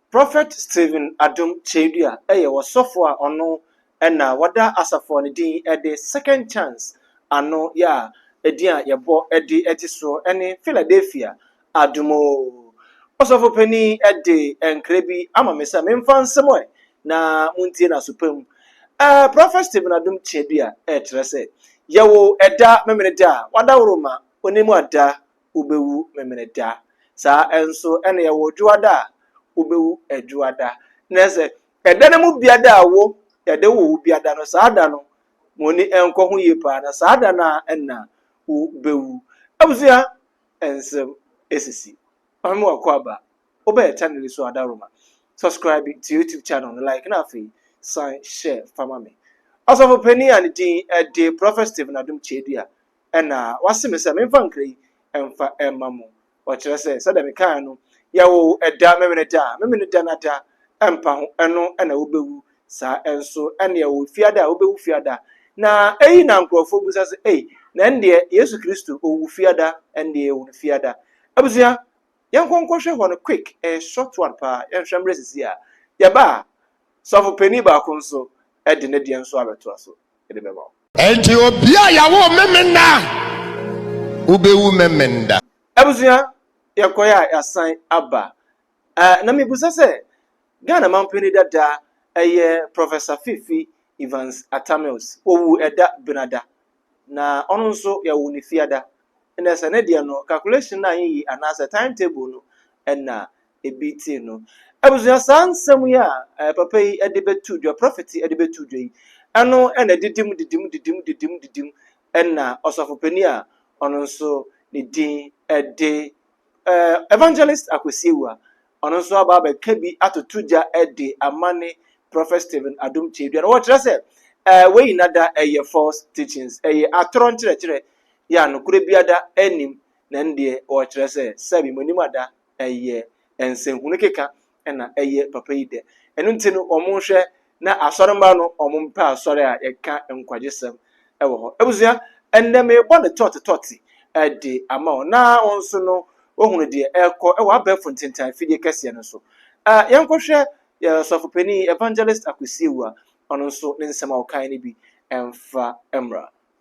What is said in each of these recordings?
Prophet Stephen Adom Kyei-Duah yɛ ɔsɔfo a ɔno na wɔda asafo a ne din de Second Chance ano yɛ a edin a yɛbɔ de gye so ne Philadelphia Adom O. Ɔsɔfo panin de nkra bi ama me sɛ memfa nsɛm ɛ na montie no aso pa mu. Ɛ Prophet Stephen Adom Kyei-Duah kyerɛ sɛ, Yɛwo ɛda Memeneda a wɔadaworo ma onimu ada wobɛwu Memeneda. Saa nso na yɛwɔ Dwoada a wobɛwu Dwoada. Na sɛ ɛda no mu biada a wo yɛde wo wo biada no, saa da no mo ani nkɔ ho yie paa na saa da no a ɛna wo bɛwu. Abusua nsɛm ɛsisi. Ɔhene mu wakɔ aba. Wobɛyɛ channel so adaroma. Subscribe to YouTube channel no like na afei san share fama me. Ɔsɔfo panin a ne din de Prophet Stephen Adom Kyedua na wase me sɛ memfa nkra yi mfa mma mo. Ɔkyerɛ sɛ, sɛdeɛ mekaeɛ no, yɛwo ɛda, Memeneda, Memeneda no ada mpa ho, ɛno na wobɛwu. Saa nso na yɛwo Fiada a, wobɛwu Fiada. Na eyi na nkurɔfoɔ bisa sɛ, ei, na ɛndeɛ Yesu Kristo, ɔwu Fiada, ɛndeɛ yɛwo no Fiada? Abusua, yɛnkɔ nkɔhwɛ hɔ no quick, ɛyɛ short one paa, yɛnhwɛ mmerɛ sisi a. Yɛba a, sɔfo panin baako nso de ne deɛ nso abɛtoa so de bɛma wo. Enti obi a yɛawo Memenda a, wobɛwu Memenda. Abusua, yɛkɔe a yɛasan aba. Eh, na mebisa sɛ, Ghana mampanin dada ɛyɛ Professor Fifi Evans Atta Mills. Ɔwu ɛda benada. Na ɔno nso yɛwo no fiada. Ɛnna sɛ ne deɛ no, calculation no anyiyi anaasɛ time table no ɛnna ebi tee no. Abusua, saa nsɛm yi a papa yi de bɛto dwa, prɔfɛt yi de bɛto dwa yi, ɛno na didim didim didim didim didim na ɔsɔfopanin a ɔno nso ne din de Evangelist Akwasi Awuah, ɔno nso aba abɛka bi atoto gya de ama ne Prɔfɛt Stephen Adom Kyedua. Na wɔkyerɛ sɛ wei nyinaa da ɛyɛ false teachings, ɛyɛ atorɔ nkyerɛkyerɛ, yɛ a nokorɛ biara da anim, na ɛno deɛ wɔkyerɛ sɛ sɛbi mo anim ada. ɛyɛ nsɛnhunu keka na ɛyɛ papa yi dɛ. Ɛno nti no, wɔhwɛ na asɔremma no wɔmpɛ asɔre a yɛka nkwagyesɛm wɔ hɔ. Abusua, ɛnnɛ merebɔ no tɔte tɔte de ama wo na wo nso no woahunu deɛ ɛrekɔ wɔ abɛɛfo ntentan fidie kɛseɛ no so. Yɛnkɔhwɛ yɛn ɔsɔfopanin Evangelist Akwesi Awuah, ɔno nso ne nsɛm a ɔkae no bi mfa mmra.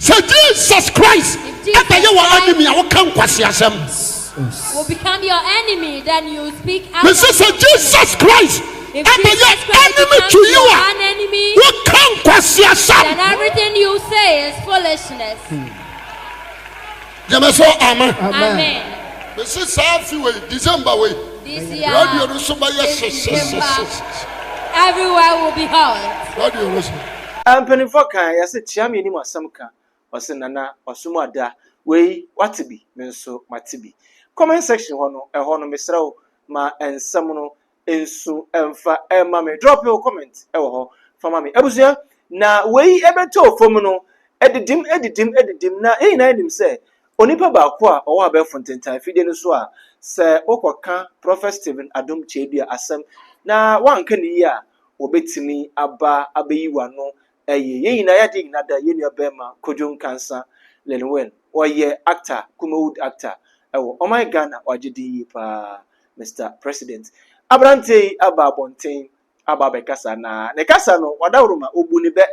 Sɛ Jesus Christ da yɛ wɔ enemy a wo ka nkwaseasɛm. Mese sɛ Jesus Christ da yɛ enemy to you a wo ka nkwaseasɛm. Gyeme so amen. Amen. Mesi saa afe wei December wei. This year. Radio no so bɛyɛ hyeshyeshyeshyeshe. Everywhere will be hot. Radio no so. Mpanimfoɔ kan yɛse kyea me anim asɛm ka ɔse nana wasom ada wei wate bi me nso mate bi comment section hɔ no ɛhɔ no mesrɛ wo ma nsɛm no nso mfa ɛma me drop your comment ɛwɔ hɔ fa ma me abusua na wei ɛbɛtɔ fam no ɛdidim ɛdidim ɛdidim na yɛn nyinaa nim sɛ onipa baako a ɔwɔ abɛɛfo ntentan fidie no so a sɛ wokɔka prɔfɛt steven adom kyɛdua asɛm na wanka ne yie a wɔbɛtumi aba abɛyi wano ɛyɛ yɛn nyinaa yɛade nyinaa da yɛn nua bɛrima Kojo Nkansa Linwin. Ɔyɛ actor, Kumawood actor ɛwɔ ɔman Ghana. Ɔagye din yie paa Mister President. Aberanteɛ yi aba abɔnten aba abɛkasa na ne kasa no wadaworo ma obu ne bɛ.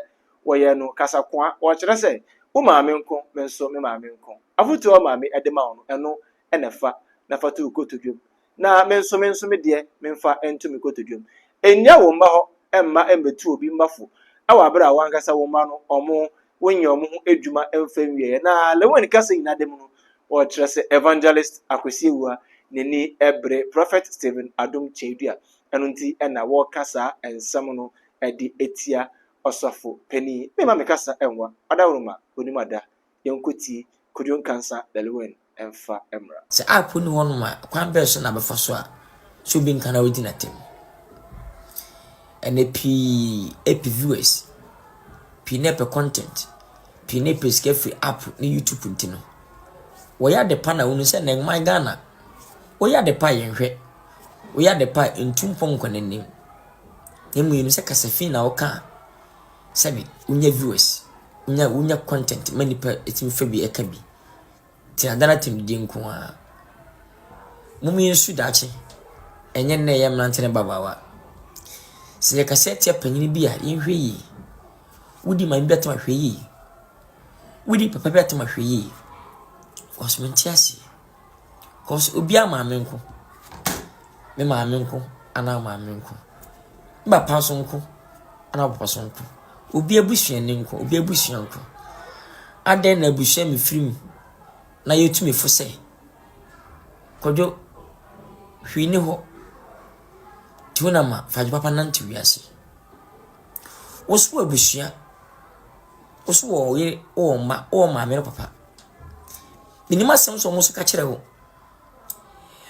Wɔyɛɛ no kasakoa, ɔrekyerɛ sɛ wo maame nko me nso me maame nko. Afotuo a maame de ma wo no ɛno na fa na fa to wo kotodwam na me nso me nso me deɛ memfa nto me kotodwam. Nnya wo mma hɔ mma mmɛtu obi mma fo wɔ abere a wankasa wo mma no ɔmo wonyɛ ɔmo ho adwuma mfa nwieɛ. Na Lewin kasa nyina da mu no ɔkyerɛ sɛ Evangelist Akwasi Awua n'ani bere Prophet Stephen Adom Kyei-Duah ɛno nti na wɔka saa nsɛm no de tia Ɔsɔfo panin. Memma me kasa nwa, Ɔdaworo ma onim ada yɛnkɔ ti kɔduro nkansa lɛlewɛn ɛnfa ɛmra. Sɛ app nni hɔ nom a, kwan bɛn so na bɛfa so a sɛ obi nka na wadi n'atam? Ɛnɛ pii ɛpɛ viewers, pii na ɛpɛ content, pii na ɛpɛ sika firi app ne YouTube nti no, wɔyɛ ade pa na wonu sɛ nɛ nman Ghana, woyɛ ade pa a yɛnhwɛ, woyɛ ade pa a ntu mpɔnkɔ n'anim, na mmom yɛnim sɛ kasafii na woka a, Sɛbi wonya viewers, wonya wonya content ma nipa tumi fa bi ɛka bi. Te adan atɛmdidie nko ara. Mom yɛn su daakye, ɛnyɛ nnɛ yɛ mmerante ne babaawa. Sɛ yɛ kasa atia panyini bi a yɛn hwɛ yie. Wodi maame bi atam ahwɛ yie. Wodi papa bi atam ahwɛ yie. Wɔsomnti aseɛ. Cause obiara maame nko. Me maame nko anaa wo maame nko. Me papa nso nko anaa wo papa nso nko. Obi abusuani nko, obi abusua nko. Adɛn na abusua mu firi mu na yɛtumi fo sɛ kwadwo hwii ne hɔ nti wo na ma fadwo papa nante wiase. Wo so abusua, wo so wɔ wo yere, wo wɔ mma, wo wɔ maame ne papa. Menim asɛm sɛ wɔn nso ka kyerɛ wo.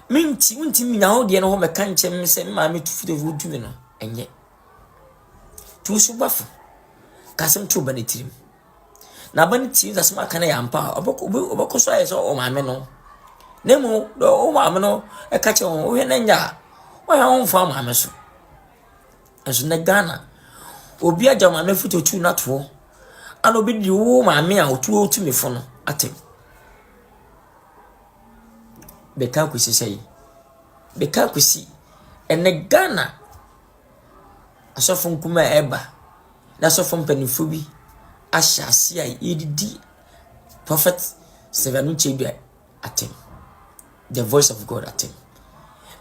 Me nti, wontumi nya wo deɛ no hɔ mɛka nkyɛn me sɛ me maame tu firi wo dumi no, ɛnyɛ. Tu so ba fo, ka asɛm to ba no tirim. Na ba no tie asɛm aka no yɛ ampa a, ɔbɛkɔ so ayɛ sɛ ɔwɔ maame no. Na mmom, deɛ ɔwɔ maame no ka kyerɛ wɔn, wohwɛ no anya a, wɔhwɛ wɔn mfa maame so. Nanso nnɛ Ghana, obi agya maame fo tuatua no ato hɔ, ɛna obi de wo maame a ɔtua wo tumi fo no atɛm. Bɛka akosi sɛ yi. Bɛka akosi ɛnɛ Ghana asɔfo nkumaa a ɛba na asɔfo mpanimfoɔ bi ahyɛ ase a yɛdidi prɔfɛt Sylvia Nukyedu a atem. The voice of God atem.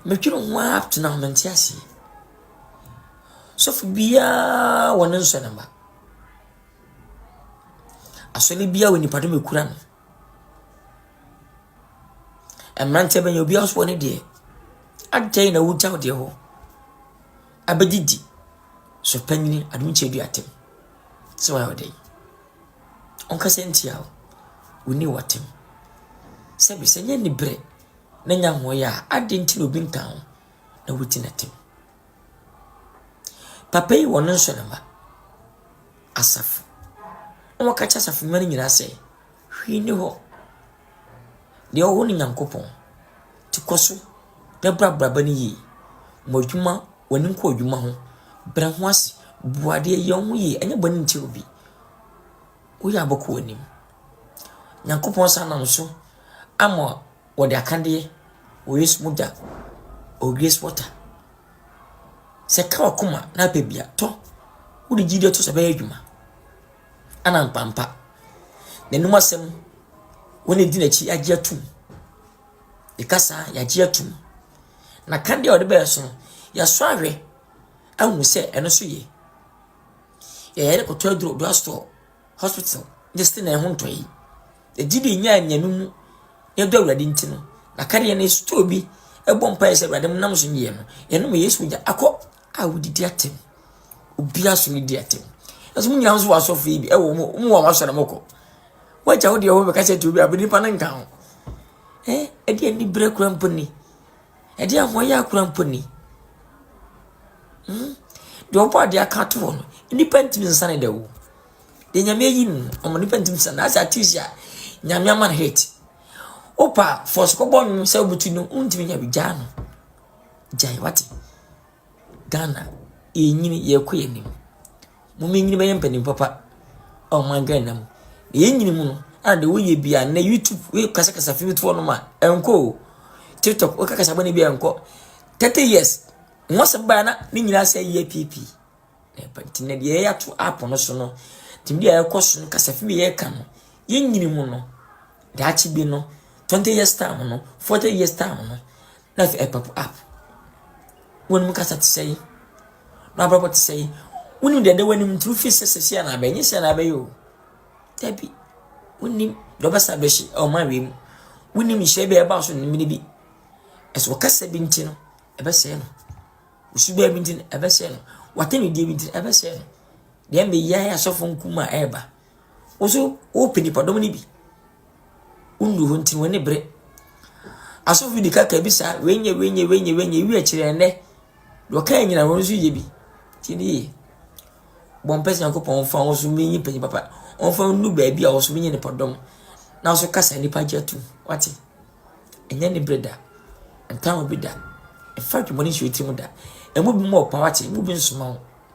Medwene ho ara up to now mente aseɛ. Sɔfo biara wɔ ne nsɔ ne mma. Asɔre biara wɔ nipa dom ekura no. Mmeranteɛ bɛnyɛ obiara nso wɔ ne deɛ. Adɛn na wogya wo deɛ hɔ? Abɛdidi. So panyini adom kyɛ du atem. Sɛ wɔayɛ ɔdɛn. ɔnkasa ntia wo, wo ne watam. Sɛbe sɛ nyɛ ne berɛ na nya ho yɛ a, adɛn nti na obi nka ho na wodi n'atam? Papa yi wɔ ne nso ne mma, asafo. Na wɔka kyerɛ asafo mma no nyinaa sɛ, hwee ni hɔ Deɛ ɔwɔ ne Nyankopɔn nti kɔ so na bra abraba no yie. Mɔ adwuma, w'ani nkɔ adwuma ho. Brɛ ho ase, bu adeɛ, yɛ wo ho yie. Ɛnyɛ bɔne ntia obi. Woyɛ a bɛkɔ w'anim. Nyankopɔn san nam so ama wɔde akadeɛ wɔ Yesu mogya or grace water. Sɛ ɛka w'akoma na apɛ bi a, tɔ. Wode gyidie to so a, ɛbɛyɛ adwuma. Ana mpa mpa. N'anom asɛm, wɔn a edi n'akyi agye atum. Ne kasa, yɛagye atum. N'akadeɛ a ɔde bɛɛ so no, yɛasɔ ahwɛ ahu sɛ ɛno nso ye. Yɛyɛ de kɔtɔ aduro Odua Store Hospital ne Stenel ho ntɔ yi. Yɛgye di nyaa nnuane mu na ɛdɔ Awurade nti no, n'akadeɛ no yɛsotɔɔ bi ɛbɔ mpaeɛ sɛ Awurade nam so nyɛ no. Yɛnom Yesu mogya akɔ a wodidi atɛm. Obiara so ne di atɛm. Ɛso mo nyinaa nso wɔ asɔfo yi bi. Ɛwɔ mo mo wɔ asɔre mo kɔ. Wagya wo deɛ wɔn bɛka sɛ tuobi abiri nipa no nka ho. Ɛɛ ɛde ani bere kura mpo ni. Ɛde ahoɔyɛ akura mpo ni. Hmm. Deɛ ɔbɔ adeɛ aka ato hɔ no, nipa ntumi nsa ne da o. Deɛ nyame ayi no, ɔmo nipa ntumi nsa. Na asɛ atiisi a, nyame ama no hate. Opa, fɔs kɔbɔ nnwom sɛ obutu no, ntumi nya bi gyaa no. Gyae wate. Ghana, yɛrenyini, yɛrekɔ yɛn anim. Mommenyini bɛyɛ mpanin papa wɔ ɔman Ghana mu. Na yɛnyini mu no, ɛna deɛ woyɛ bia nnɛ YouTube wokasakasa fimfoɔ no ma ɛnkɔ o. TikTok wokakasa bɔne bia ɛnkɔ. 30 years, nwasɛm baa na ne nyinaa sɛ yɛ piipi. Na ɛba nti na deɛ yɛyɛ ato app no so no, tumi deɛ ɛkɔ so no, kasa fim yɛ ka no, yɛnyini mu no, daakye bi no, 20 years time no, 40 years time no, Na afei ɛpɔp up. W'anim kasa te sɛn? W'abrabɔ te sɛn? Wonim deɛ ɛda w'anim nti wofi sɛ sɛsi anaa bɛyɛ, nyɛ sɛ anaa bɛyɛ o. Dabi, wonim deɛ ɔbɛsa bɛhye ɛwɔ ɔman wei mu. Wonim nhyɛ bi a ɛbaa so no mmiri bi. Ɛso ɔkasa bi nti no, ɛbɛsɛe no. Osubaa bi nti no, ɛbɛsɛe no. W'atɛnudie bi nti no, ɛbɛsɛe no. Deɛ mbɛ yi ayɛ asɔfo nkum a ɛreba. Woso wopɛ nipadɔm no bi. Wonnuu hɔ nti, wɔn ani bere. Asɔfo bi de kaka bi saa, wei nyɛ, wei nyɛ, wei nyɛ, wei nyɛ, ewi akyire ɛnnɛ. Deɛ ɔka nyina wɔn nso yɛ bi. Ti ne yie. Bɔ mpɛ sɛ Nyankopɔn mfa wo so menyi panyin papa. Ɔmfa nnu baabi a wo so menyi nipadɔm. Na so kasa nnipa gye atum. Wate? Ɛnyɛ ne bere da. Ntaa obi da. Ɛfa adwumɔne nhyɛ wo tirim da. Ɛmu bi mu ɔpa wate, ɛmu bi nsoma wo.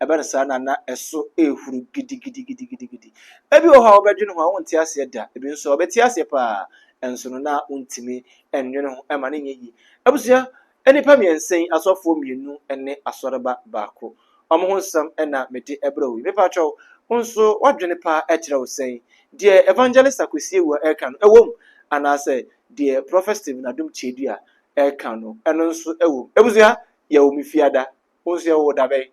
Ɛba no saa na na ɛso rehuru gidigidigidigidi. Ebi wɔ hɔ a wobɛdwene ho a wonte aseɛ da, ebi nso a wobɛte aseɛ paa nso no na wontumi nnwene ho ɛma no nyɛ yie. Abusua, nnipa mmiɛnsa yi, asɔfoɔ mmienu ne asɔreba baako, wɔn ho nsɛm na mede brɛ wo yi. Mepakyɛ wo, wo nso w'adwene pa kyerɛ wo sɛn? Deɛ Evangelist Akwasi Awuah reka no ɛwɔ mu anaasɛ deɛ Prɔfɛt Stephen Adom Kyedua reka no ɛno nso ɛwɔ mu? Abusua, yɛwɔ me fie ada. Wonsua o dabɛn.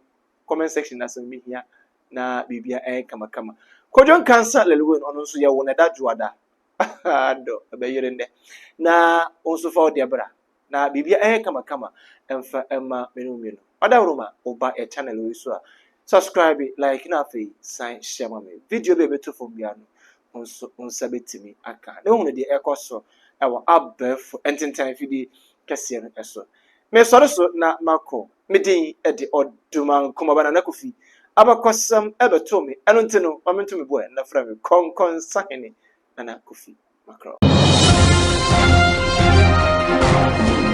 Comment section na sɛ mehia na biribiara ɛyɛ kamakama. Kojo Nkansa Lelwin ɔno nso yɛwo no ɛda dwoada. Adɔ ɛbɛyere nnɛ. Na wo nso fa wo deɛ bra. Na biribiara ɛyɛ kamakama ɛmfa ɛma me ne wo mmienu. Ɔdawuruma woba yɛ channel wei so a subscribe, like na afei san hyɛ ma me. Video bi a ɛbɛto fam biara no nso wo nsa bɛtumi aka na wohunu deɛ ɛkɔ so wɔ abɛɛfo ntentan afidie kɛseɛ no so. Mesɔre so na makɔ, me din de Odumankumaba Nana Kofi. Abakɔsɛm bɛtoo me, ɛno nti no ma mento me boɛ na frɛ me Kɔnkɔnsahene Nana Kofi Makorɔ.